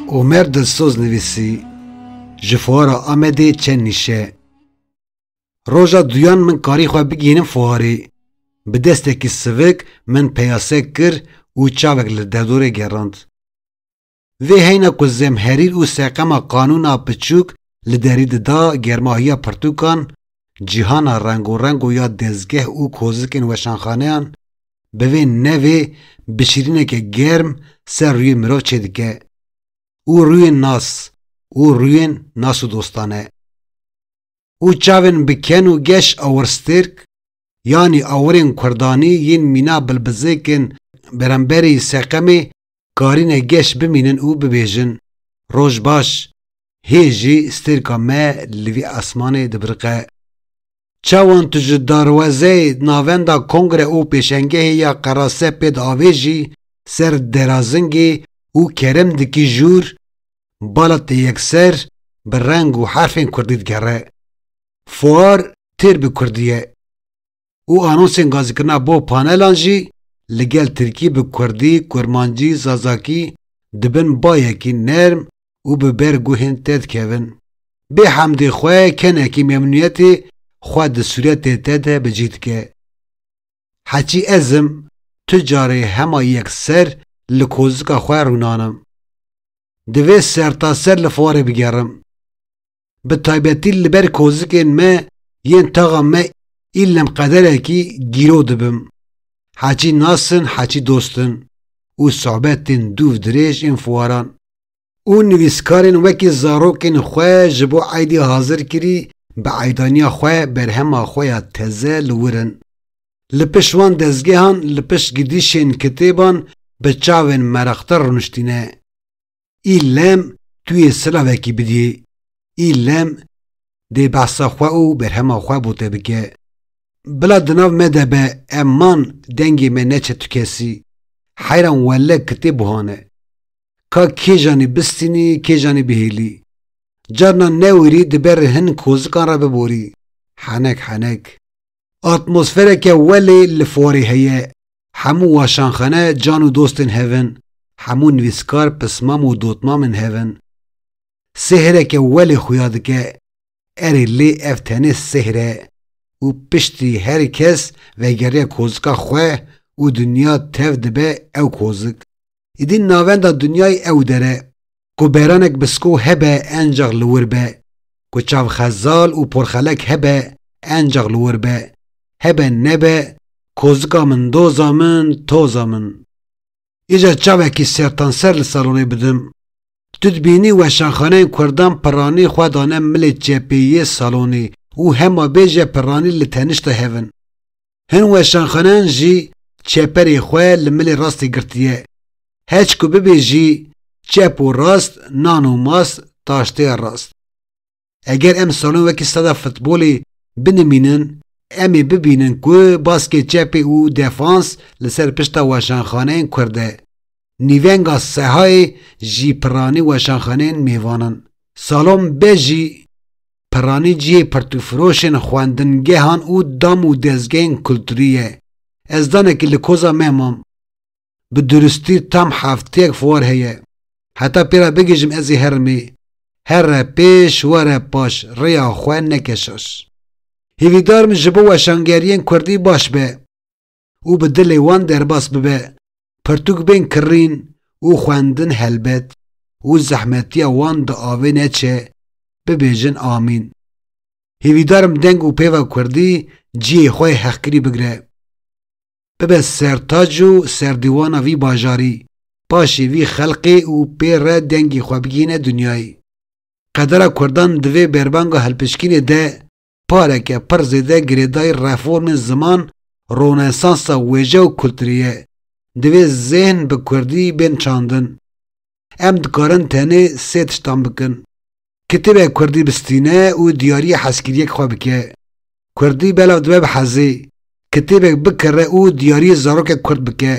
Omer Dilsoz nivîsî, Ji fuara Amedê çend nîşe. Roja duyan min karî xwe bigihînim fuarê. Bi destekî sivik min peyase kir û çavek li derdorê gerand. Vê heyna ku zemherîr û seqema qanûna piçûk li derî dida germahiya pirtûkan, cîhana rengorengo ya dezgeh û kozikên weşanxaneyan, bi vê nevê bişirîneke germ ser rûyê mirov çêdike û rûyên nas û rûyên nas û dostane û çavên bi ken û geş awirstêrk yanî awirên kurdanî yên mîna bilbizêkên beremberî seqemê karîne geş bimînin û bibêjin, Roj baş, hê jî stêrka me li vî esmanê dibiriqe. Çawan tu ji darwezeyê navenda Kongre û Pêşengehê ya Qerase pê diavêjî ser Derazingê û kerem dikî jûr, bala te yekser bi reng û herfên kurdî digere. Fuar têr bi kurdî ye. û anonsên gazikirina bo panelan jî li gel tirkî bi kurdî, kurmancî, zazakî di bin bayekî nerm û bi ber guhên te dikevin. Bê hemdê xwe kenekî memnûniyetê xwe di sûretê te de bi cih dike. Heçî ez im, tu carê hema yekser li kozika xwe rûnanim. Divê sertaser li Fuarê bigerim. bi taybetî li ber kozikên me yên taxa me î lem qederekî gîro dibim. Heçî nas in heçî dost in û sohbetên dûv dirêj ên fuaran û nivîskarên wekî zarokên xwe ji bo eydê hazir kirî bi eydaniya xwe berhema xwe ya teze li wir in. Li pişt wan dezgehan li pişt gidîşên kitêban bi çavên meraqdar rûniştîne. Î lem tu yê silavekî bidî. Î lem dê behsa xwe û berhema xwe bo te bike. Bila di nav me de be em man dengê me neçe tu kesî. Heyran welle kitêb buhan e. Ka kêjanî bistînî kêjanî bihêlî. Carna newirî di ber hin kozikan re biborî. Henek henek. Atmosfereke welê li forê heye, hemû waşanxane can û dostên hev in, hemû nivîskar pismam û dotmamên hev in. Sêhreke welê xuya dike, erê lê ev tenê sêhr e û piştî herî kes vegeriya kozika xwe û dinya tev dibe ew kozik. Îdî navenda dinyayê ew der e, ku beranek bi sko hebe encax li wir be, ku çavxezal û porxelek hebe encax li wir be, hebe nebe, kozika min doza min, toza min. Îcar çavekî sertanser li salonê bidim. Tu dibînî weşanxaneyên kurdan pirranî xwe dane milê çepê yê salonê û hema bêje pirranî li tenişta hev in. Hin weşanxanan jî çeperê xwe li milê rastê girtiye. Hec ku bibê jî çep û rast, nan û mast, taşteya rast. Eger em salon wekî steda futbolê binimînin, em ê bibînin ku baskê çepê û defans li ser pişta weşanxaneyên kurd e. Nîvenga Sehayê jî piranî weşanxaneyên mêvan in. Salon be jî. Piranî cihê pirtûfiroşên xwendingehan û dam û dezgehên kulturî ye. Ez danekî li koza me mam. Bi duristî tam hefteyek fuar heye. Heta pê re bigihîjim ez ê herimê. Here pêş, were paş, rêya xwe neke şaş. Hîvîdar im ji bo weşangeriyên kurdî baş be. û bi dilê wan derbas bibe, pirtûk bên kirrîn û xwendin helbet û zehmetiya wan di avê neçe, bibêjin amîn. Hîvîdar im deng û pêva kurdî ciyê xwe yê hexkirî bigire. Bibe sertac û serdîwana vî bajarî, paşê vî xelqê û pê re dengê xwe bigihîne dinyayê. Qedera kurdan di vê berbanga hilpişkînê de pareke pir zêde girêdayî reformên ziman, ronesansa wêje û kulturî ye. Divê zêhn bi kurdî bên çandin. Em dikarin tenê sê tiştan bikin. Kitêbek kurdî bistîne û diyarîya hezkiriyek xwe bike. Kurdî belav dibe bi hezê. Kitêbek bikire û diyarîyê zarokek kurd bike.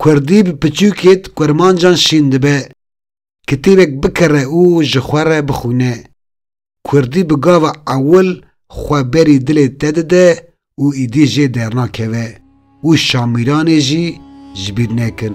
Kurdî bi piçûkê di kurmancan şîn dibe. Kitêbek bikire û ji xwe re bixwîne. Kurdî bi gava ewil xwe berî dilê te dide û îdî jê dernakeve û şamîranê jî ji bîr nekin.